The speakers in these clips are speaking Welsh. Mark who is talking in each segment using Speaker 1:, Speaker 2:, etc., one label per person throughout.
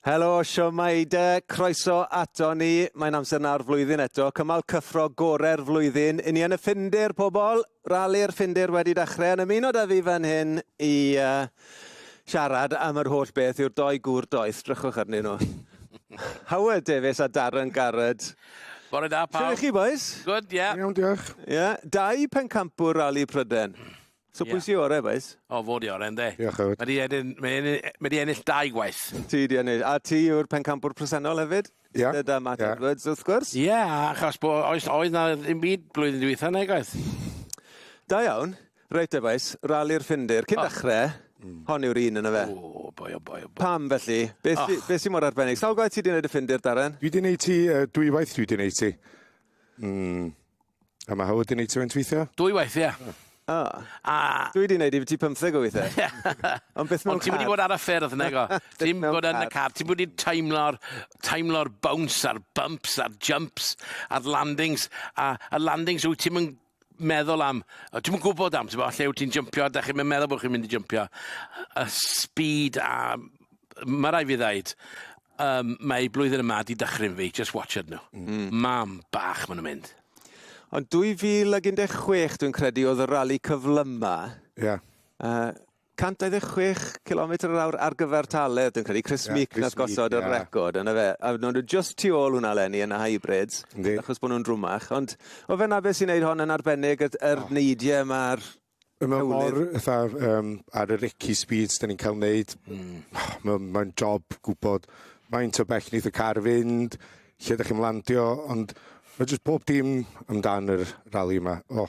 Speaker 1: Helo, siwmai de, croeso ato ni. Mae'n amser nawr flwyddyn eto, cymal cyffro gore'r flwyddyn. Yn ni yn y Ffindir, pobl, rali'r Ffindir wedi dechrau. Yn ymuno da fi fan hyn i uh, siarad am yr holl beth yw'r doi gŵr doeth. Drychwch arnyn nhw. Howard Davies a Darren Garrett. Bore da, pawb. Sut chi, boys? Good, ie. Yeah. Iawn, diolch. Ie, yeah. dau pencampwr rali Pryden. So pwy sy ore bois? O fo di ore yndi? Diolch Howard. Mae di edyn, mae di, mae di ennill dau gwaith. Ti di ennill. A ti yw'r pencampwr presennol hefyd? Ia. Yeah. Dyda Matt yeah. Edwards wrth gwrs. Ie, yeah, achos bo, oes, oedd na ddim byd blwyddyn dwytha neu gwaith. Da iawn. Reit efais, rali'r ffindir. Cyn oh. dechrau, mm. hon yw'r un yn y fe. O, boi, o, boi, o, boi. Pam felly? Beth oh. sy, be sy mor arbennig? Sawl gwaith ti di wneud y ffindir, Darren? Dwi di wneud ti, uh, dwy waith dwi di wneud ti. Mm. A mae Howard wedi gwneud ti faint weithiau? Dwy waith, ie. Yeah. O. A... Dwi wedi gwneud i ti 50 o weithiau. Ond beth mewn car? Ond ti wedi bod ar y ffyrdd, nego. Ti'n bod yn y car. Ti'n bod wedi teimlo'r teimlo bounce a'r bumps a'r jumps a'r landings. A y landings wyt ti'n meddwl am, o, ti'n gwybod am, ti'n gwybod, lle wyt ti'n jympio, da chi'n meddwl bod chi'n mynd i jympio, y speed a, mae rai fi ddaid, um, mae blwyddyn yma di dychryn fi, just watch it nhw. Mm. Mam bach maen nhw'n mynd. Ond 2016, dwi'n credu, oedd y rali cyflyma. Ie. Yeah. Uh, 126 cilometr yr awr ar gyfer Tale, dwi'n credu Chris yeah, Meek nath gosod yeah. y record yna fe. A nhw'n just tu ôl hwnna lenni yn y hybrids, Yndi. achos bod nhw'n drwmach. Ond o fe na beth sy'n neud hon yn arbennig, yr, yr oh. neidiau yma'r Mae mor, fatha, um, ar yr icky speeds da ni'n cael wneud, mm. mae'n ma job gwybod faint o bell nid y car fynd, lle da chi'n landio, ond mae jyst pob dim amdan yr rali yma. Oh,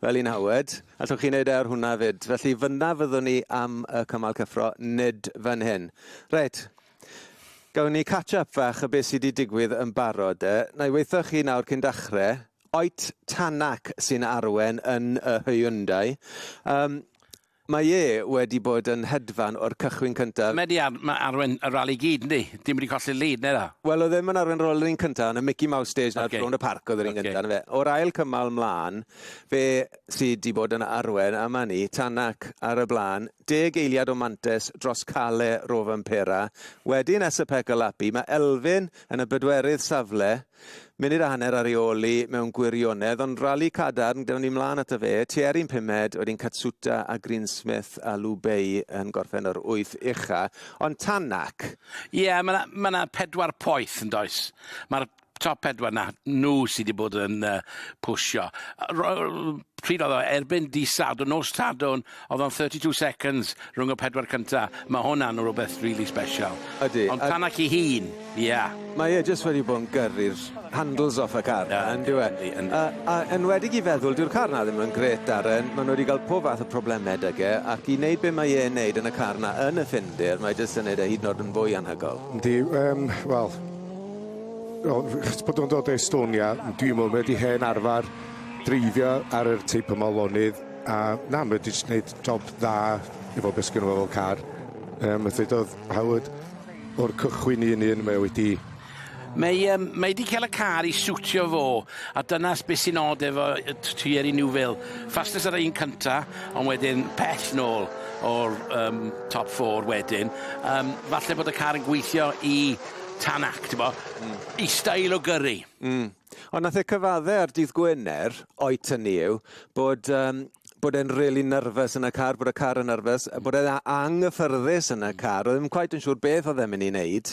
Speaker 1: Fel un hawed. Allwch chi wneud e ar hwnna 'fyd. Felly fynna fyddwn ni am y cymal cyffro, nid fan hyn. Reit. Gawn ni catch up fach o beth sydd wedi digwydd yn barod de. Na i weithio chi nawr cyn dachre. Oet Tanak sy'n arwen yn y Hyundai. Um, Mae e wedi bod yn hedfan o'r cychwyn cyntaf. Mae 'di arwen y rali i gyd yndi? Dim wedi colli'r lead na iddo? Wel oedd e ddim yn arwen rali yr un cyntaf, yn y Mickey Mouse Stage 'na rownd y parc oedd yr un gyntaf 'na fe. O'r ail cymal 'mlan fe sy 'di bod yn arwen a 'ma ni, Tanak ar y blaen, deg eiliad o mantes dros Kalle Rovanperä, wedyn Esapekka Lappi, mae Elfyn yn y bedwerydd safle, Munud a hanner ar ei ôl i mewn gwirionedd, ond rali cadarn gyda ni mlaen ato fe, Thierry'n pumed, wedyn Katsuta a Greensmith a Lu Bei yn gorffen o'r wyth ucha, ond Tänak! Ie, ma' 'na ma' 'na pedwar poeth yndoes? Ma'r top pedwar 'na, nhw sy' 'di bod yn yy pwsio. Yy ro- yy pryd oedd o, erbyn dydd Sadwrn, nos Sadwrn Odd o'n thirty two seconds rhwng y pedwar cynta. Ma' hwnna'n rwbeth rili sbesial. Ydi. Ond tan ac 'i hun, ia. Mae e jyst wedi bod yn gyrru'r handles off y car 'na yndyw e? Yndi yndi. A a enwedig i feddwl dyw'r car 'na ddim yn grêt Darren, ma' nw 'di ga'l pob fath o probleme 'dyg e ac i neud be' mae e'n neud yn y car 'na yn y Ffindir mae jyst yn neud e hyd yn o'd yn fwy anhygol. Yndi yym wel o chos bod o'n dod o Estonia dwi'm yn wedi hen arfar dreifio ar yr teip yma o lonydd. A na ma' 'di js neud job dda efo be' sgynno fo fel car. Yym a ddedodd Howard o'r cychwyn un i un mae o wedi Mae yym mae 'di ca'l y car i siwtio fo a dyna s- be' sy'n od efo yy t- Thierry Neuville. Fastest ar yr un cynta ond wedyn pell nôl o'r yym top four wedyn yym falle bod y car yn gweithio i Tänak t'bo'? Hmm. 'i steil o gyrru. Hmm. Ond nath e cyfadde ar dydd Gwener, o'i tynnu yw, bod um, bod e'n really nervous yn y car, bod y car yn nervous, a bod e'n anghyffyrddus yn y car. Oedd ddim quite yn siŵr beth oedd e'n mynd i wneud.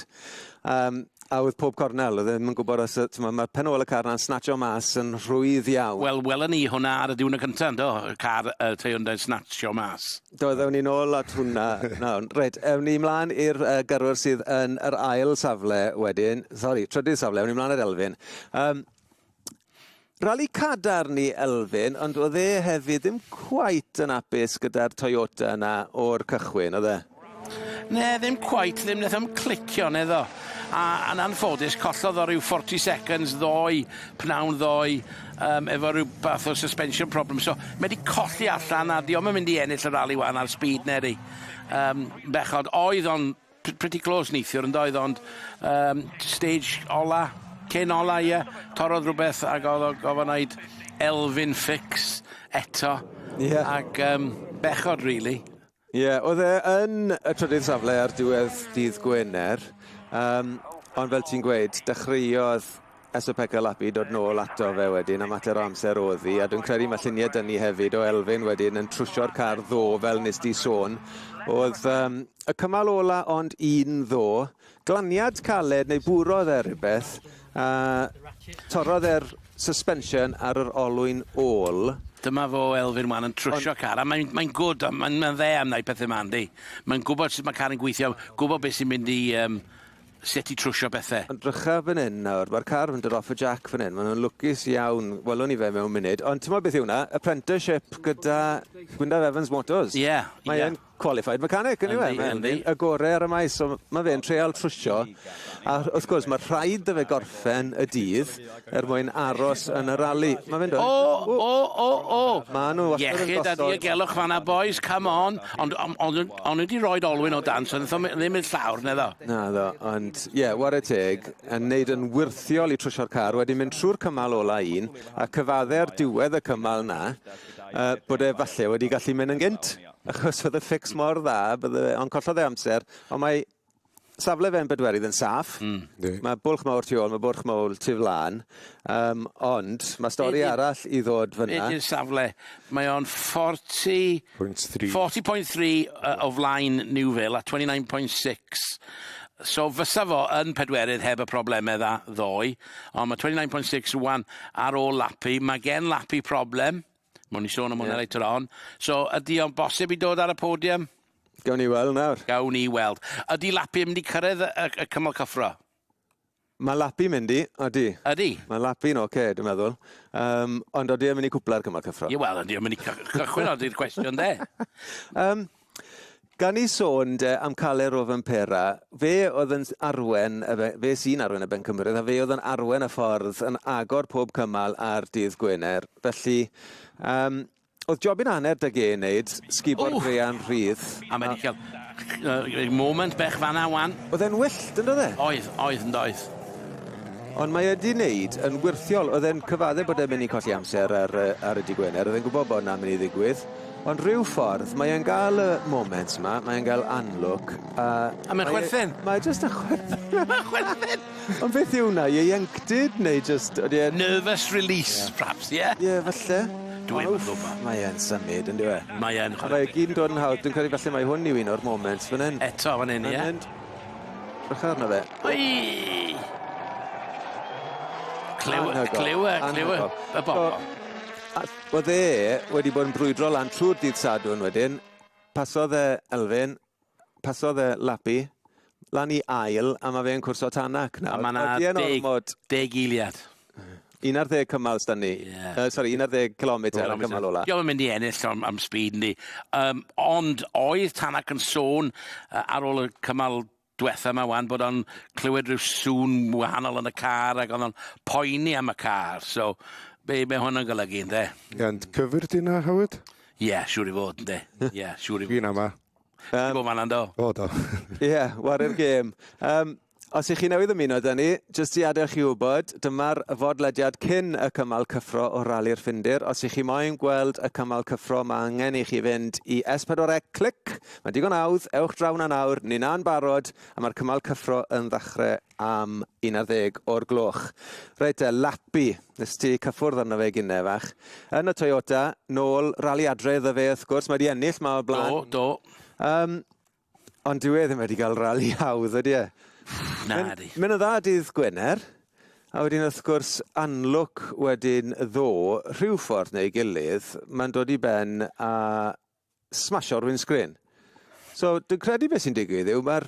Speaker 1: Um, a oedd pob cornel, oedd e ddim yn gwybod os, tyma, mae'r pen ôl y car na'n snatcho mas yn rhwydd iawn. Wel, welon ni hwnna ar y diwrnod cyntaf, ynddo? Y car uh, Hyundai snatcho mas. Do, ddewn ni'n ôl at hwnna nawr. Reit, ewn ni mlaen i'r uh, gyrwyr sydd yn yr ail safle wedyn. Sori, trydydd safle, ewn ni mlaen i'r Elfyn. Um, Rali cadarn i Elfyn, ond oedd e hefyd ddim cwait yn apus gyda'r Toyota yna o'r cychwyn, oedd e? Ne, ddim cwait, ddim wnaeth am clicio yn eddo. A yn anffodus, collodd o rhyw 40 seconds ddoe, pnawn ddoe, yym efo ryw bath o suspension problem so mae 'di colli allan a 'di o'm yn mynd i ennill y rali ŵan ar speed neu yrru yym bechod oedd o'n p- pretty close neithiwr yndoedd ond yym stage ola cyn ola ie torrodd rwbeth ag o'dd o gofo neud elfyn fix eto ie ac yym bechod rili. Ie, oedd e yn y trydydd safle ar diwedd dydd Gwener, um, ond fel ti'n gweud, dechreuodd Esopeka Lapi dod nôl ato fe wedyn, a mater o amser oedd hi, a dwi'n credu mae lluniau dyn ni hefyd o Elfyn wedyn yn trwsio'r car ddo, fel nes di sôn. Oedd um, y cymal ola ond un ddo, glaniad caled neu bwrodd e rhywbeth a torrodd e'r suspension ar yr olwyn ôl. Dyma fo Elfyn wan yn trwsio Ond... car a mae'n mae gwd a mae'n mae dde am wneud pethau yma yndi. Mae'n gwybod sut mae car yn gweithio, gwybod beth sy'n mynd i um, sut i trwsio pethau. Ond drycha fan hyn nawr, mae'r car yn dod off y jack fan hyn, maen nhw'n lwcus iawn, welwn ni fe mewn munud, ond ti'n meddwl beth yw hwnna? Apprenticeship gyda Gwyndaf Evans Motors. Ie, yeah, ie. Yeah. qualified mechanic yndyw e? Mae'n y gorau ar y maes, so mae fe'n treial trwsio. A wrth gwrs, mae rhaid dy fe gorffen y dydd er mwyn aros yn y rali. Mae fe'n dod. O, o, o, o! Mae nhw wastad yn gosod... Iechyd a diogelwch fanna, boys, come on. Ond on, on, on wedi rhoi olwyn o dan, so ddim yn llawr, na ddo. Na ddo, ond ie, yeah, war y teg, yn neud yn wirthiol i trwsio'r car, wedi mynd trwy'r cymal ola un, a cyfadde ar diwedd y cymal na, uh, bod e falle wedi gallu mynd yn gynt. Achos oedd y ffix mor dda, bydde fe, ond collodd e amser. Ond mae safle fe yn bedwerydd yn saff. Mm. Di. Mae bwlch mawr tu ôl, mae bwlch mawr tu flan. Um, ond mae stori Edi. arall i ddod fyna. Ydy'r safle. Mae o'n 40... 40.3. 40.3 uh, o flaen New Vale a 29.6. So fysa fo yn pedwerydd heb y problemau dda ddoe, ond mae 29.6 rwan ar ôl lapu. Mae gen lapu problem. Mwyn ni sôn am hwnna yeah. later on. So, ydy o'n bosib i dod ar y podium? Gawn ni weld nawr. Gawn ni weld. Ydy Lapi yn mynd i cyrraedd y, y, y cymal cyffro? Mae Lapi mynd i, ydy. Ydy? Mae Lapi'n oce, okay, dwi'n meddwl. Um, ond ydy yn mynd i cwpla'r cymal cyffro? Ie, wel, ydy yn mynd i cychwyn, ydy'r cwestiwn de. um, Gan i sôn de am Cale Rovanpera, fe oedd yn arwen, fe sy'n arwen y Bencampwriaeth, a fe oedd yn arwen y ffordd yn agor pob cymal ar dydd Gwener. Felly, um, oedd jobyn hanner dy gen wneud, sgubo'r grean rhydd. A mae wedi cael uh, moment bech fanna wan. Oedd e'n wyllt, yn dod e? Oedd, oedd, yn doedd. Ond mae wedi wneud yn wirthiol, oedd e'n cyfadde bod e'n mynd i colli amser ar, ar y di Gwener, oedd e'n gwybod bod yna'n mynd i ddigwydd. Ond rhyw ffordd mae e'n ga'l y moment 'ma mae e'n ga'l unlock a... A mae'n chwerthin. Mae jyst yn chwerthin. Mae'n chwerthin! Ond beth yw wnna ieuenctid neu jyst odi e'n... Nervous release perhaps ie? Ie falle. Dwi 'im yn gwbo. Mae e'n symud on'd yw e? Mae e'n chwerthin. A mae e gyd yn dod yn hawdd dwi'n credu falle mai hwn yw un o'r moments fan 'yn. Eto fan 'yn ie? Fan 'yn. Drycha arno fe. Wei! Clyw- clyw- clyw- y bobol. Oedd e wedi bod yn brwydro lan trwy'r dydd Sadwrn wedyn, pasodd e Elfyn, pasodd e Lapi, lan i ail, a mae fe'n cwrso Tanak nawr. A mae yna deg, ormod... deg eiliad. 11 cymal stan ni. Yeah. Uh, sorry, 11 km ar y cymal ola. Diolch yn mynd i ennill am, am speed ni. Um, ond oedd Tanak yn sôn uh, ar ôl y cymal dwetha 'ma wan bod o'n clywed rhyw sŵn wahanol yn y car ac o'dd o'n poeni am y car so be' be' hwn yn golygu ynde? Ond cyfyr di 'na Howard? Ie siŵr i fod ynde. Ie siŵr i fod. Fi'n ama. Yym. Ti fan 'na do? O do. Ie, wari'r gêm. Yym, os ych chi newydd ymuno 'da ni, jyst i adael chi wybod, dyma'r fodlediad cyn y cymal cyffro o Rali'r Ffindir. Os ych chi moyn gweld y cymal cyffro, ma' angen i chi fynd i S4C Click Mae'n digon hawdd, ewch draw 'na nawr, ninna yn barod, a mae'r cymal cyffro yn ddachre am un ar ddeg o'r gloch. Reit te, Lappy, nes ti cyffwrdd arno fe gine, fach. Yn y Toyota, nôl rali adre iddo fe, wrth gwrs, mae wedi ennill ma o'r blaen. Do, do. Um, ond dyw e ddim wedi cael rali hawdd, ydy e? Na, di. Mae'n o dda dydd Gwener, a wedyn wrth gwrs anlwc wedyn ddo, rhyw ffordd neu gilydd, mae'n dod i ben a smasio'r windscreen. So, dwi'n credu beth sy'n digwydd yw mae'r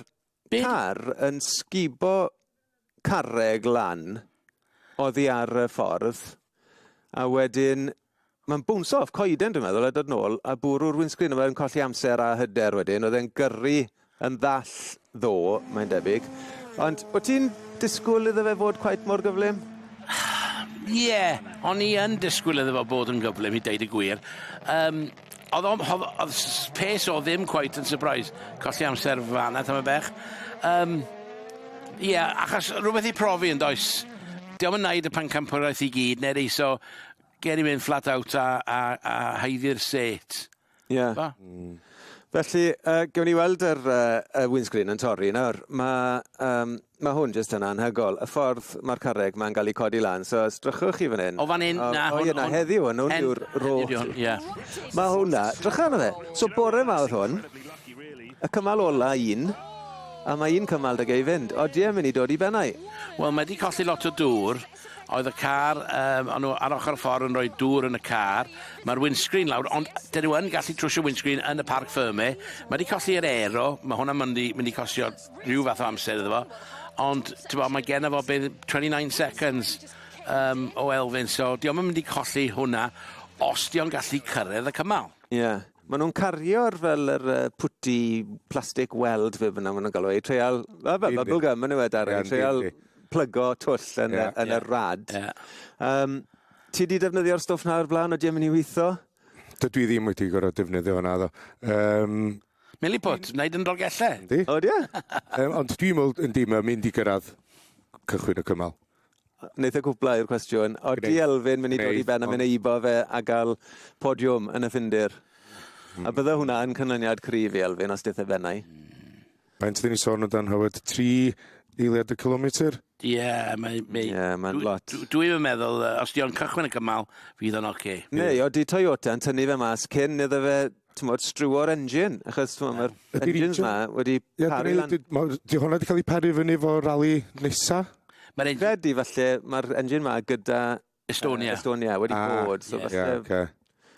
Speaker 1: car yn sgubo carreg lan oddi ar y ffordd, a wedyn mae'n bwnsio off coeden dwi'n meddwl a dod nôl a bwrw'r windscreen a mae'n colli amser a hyder wedyn. Oedd e'n gyrru yn ddall ddo, mae'n debyg. Ond o ti'n disgwyl iddo fe fod cweit mor gyflym? Ie, yeah, o'n i yn disgwyl iddo fo bod yn gyflym i deud y gwir. Um, oedd o'n pes o ddim cweit yn surprise. Colli amser fanna, tam y bech. Um, Ie, yeah, achos rhywbeth i profi yn does. Diolch yn naid y pan campwraeth i gyd, neu reiso, ger i mynd flat out a, a, a haeddi'r set. Ie. Da. Mm. Felly, uh, gewn ni weld yr uh, y windscreen yn torri nawr. Mae um, ma hwn jyst yn anhygol. Y ffordd mae'r carreg mae'n cael ei codi lan. So, os drychwch chi fan hyn... O fan hyn, na. O, ie, na, heddiw, yn hwn yw'r rôl. Ie. Mae hwnna, drycha arno fe. So, bore ma oedd hwn. Y cymal ola un. A mae un cymal dy gei fynd. O, di e mynd i dod i bennau. Wel, mae wedi colli lot o dŵr. oedd y car, um, o'n nhw ar ochr y ffordd yn rhoi dŵr yn y car, mae'r windscreen lawr, ond dyn nhw yn gallu trwsio windscreen yn y parc ffyrme, mae wedi colli yr aero, mae hwnna'n mynd i, mynd i costio rhyw fath o amser iddo fo, ond bo, mae gen fo bydd 29 seconds um, o elfyn, so di o'n mynd i colli hwnna os di o'n gallu cyrraedd y cymal. Ie. Yeah. Maen nhw'n cario'r fel yr uh, pwti plastig weld fe fyna, maen nhw'n galw ei treial, fel bubble gum yn yw e, Darren, treial plygo twll yn, yeah, yn yeah. y rad. Yeah. Um, ti wedi defnyddio'r stwff na o'r blaen o dim yn ei weithio? Dydw i ddim wedi gorau defnyddio hwnna, ddo. Um, Milliput, wneud yn rogellau. Yndi. O, di? um, ond dwi'n meddwl, yndi, mae'n mynd i gyrraedd cychwyn y cymal. Wneud y cwblau i'r cwestiwn. O, di Elfyn mynd i dod i ben a mynd i eibo fe a gael podiwm yn y ffindir? A bydde hwnna yn canlyniad cryf i Elfyn os dith e bennau? Faint dyn ni sôn o dan Howard? 3 eiliad y kilometr? Ie, yeah, mae... Mae, yeah, mae'n lot. Dwi'n dwi meddwl, uh, os diolch cychwyn y cymal, fydd o'n oce. Okay. Neu, o, di Toyota yn tynnu fe mas cyn iddo fe tymod, strywio'r engine, achos yeah. mae'r engines yma wedi yeah, paru lan. Di hwnna wedi cael ei paru fyny fo rali nesa? Mae'r engine... Fedi, falle, mae'r engine yma gyda Estonia. Uh, Estonia, wedi ah, bod. So yes. yeah, okay.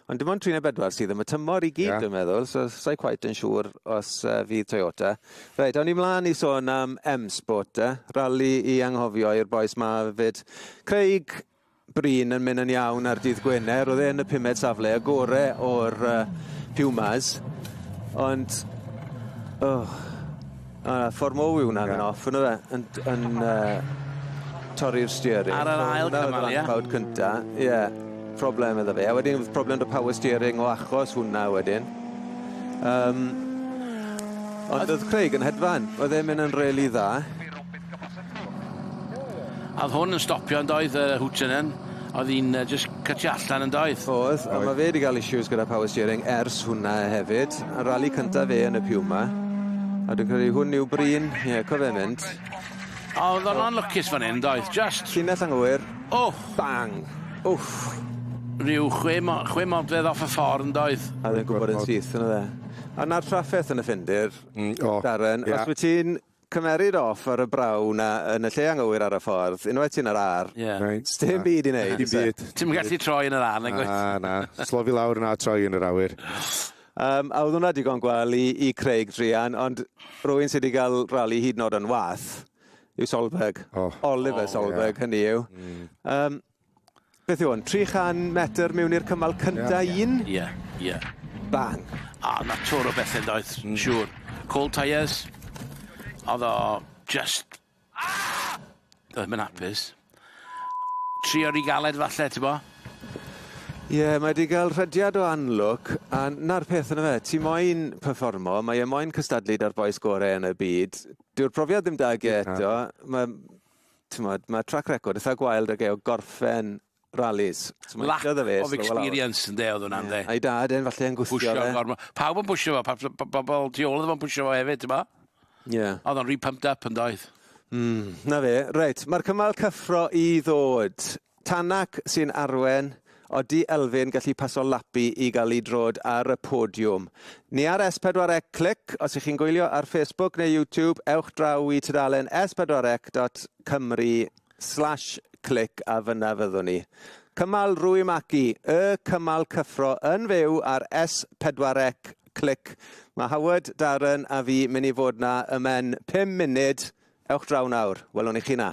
Speaker 1: Ond dim ond 34 sydd am y tymor i gyd, yeah. dwi'n meddwl, so sa'i quite yn siŵr os uh, fydd Toyota. Reit, awn ni mlaen i sôn am M-Sport, eh? rally i anghofio i'r boes ma fyd. Craig Bryn yn mynd yn iawn ar dydd Gwener, oedd e'n y pumed safle y gore o'r uh, Pumas, ond... Oh, A ffordd mowr yw hwnna yn off yno fe yn yn yy torri'r steering. Ar yr ail cymal ie? Ffawd cynta ie problem iddo fe a wedyn o'dd problem 'da power steering o achos hwnna wedyn. Yym ond o'dd Craig yn hedfan. Oedd e'n myn' yn rili dda. A oedd hwn yn stopio yn doedd, y hwt yna'n, oedd hi'n just cytio allan yn doedd? Oedd, a mae fe wedi cael issues gyda power steering ers hwnna hefyd. A rali cyntaf fe yn y Puma. A dwi'n credu hwn yw Bryn, ie, yeah, cofe mynd. A oedd o'n anlwcus fan hyn, doedd, just... Llinell anghywir. O! Oh. Bang! Wff! Rhyw chwe, mo chwe modfedd off y ffordd yn doedd. A ddim gwybod yn syth yn y dde. A na'r trafferth yn y ffindir, mm, oh, Darren, yeah. os wyt ti'n Cymeryd off ar y braw 'na yn y lle anghywir ar y ffordd, unwaith ti yn yr ar, Ie. Reit. sdim Na. byd i neud, Dim oes e? byd. Ti'm yn gallu troi yn yr ar nag wyt? Na, na. Slofi lawr na troi yn yr awyr. Yym, a oedd hwnna digon gwell i i Craig druan, ond rhywun sy 'di ga'l rali hyd yn o'd yn wath yw Solberg. O. Oliver Solberg hynny yw. Yym. Beth yw hwn? 300 metr mewn i'r cymal cynta yeah. un? Ie, yeah, ie. Yeah. Bang. A na twr o bethau doedd, mm. siŵr. Call tyres. Oedd o just... Ah! Doedd mynd hapus. Tri o'r i galed falle, ti bo? Ie, yeah, mae wedi cael rhediad o anlwc, a na'r peth yna fe, ti moyn performo, mae e moyn cystadlu da'r boes gorau yn y byd. Dyw'r profiad ddim da ge eto, mae t'mod, ma' trac record itha gwael 'da fe o gorffen rallies. So mae'n Lack of fe experience ynde oedd hwnna ynde? A'i dad e'n falle yn gwthio fe. Pwysio gormod. Pawb yn pwysio fo, pawb p- bobl tu ôl iddo fo'n pwysio fo hefyd, ti'n mo? Ie. Oedd o'n rhy pumped up yndoedd? Mm, 'na fe. Reit, mae'r cymal cyffro i ddod. Tanak sy'n arwen, Odi Elfyn gallu paso lapi i gael ei drod ar y podiwm? Ni ar S4C Clic, os ych chi'n gwylio ar Facebook neu YouTube, ewch draw i tudalen S4C dot Cymru slash clic a fyna fyddwn ni. Cymal Rwy Magi, y cymal cyffro yn fyw ar S4C Clic. Mae Howard, Darren a fi mynd i fod na ymen 5 munud. Ewch draw nawr. Welwn i chi na.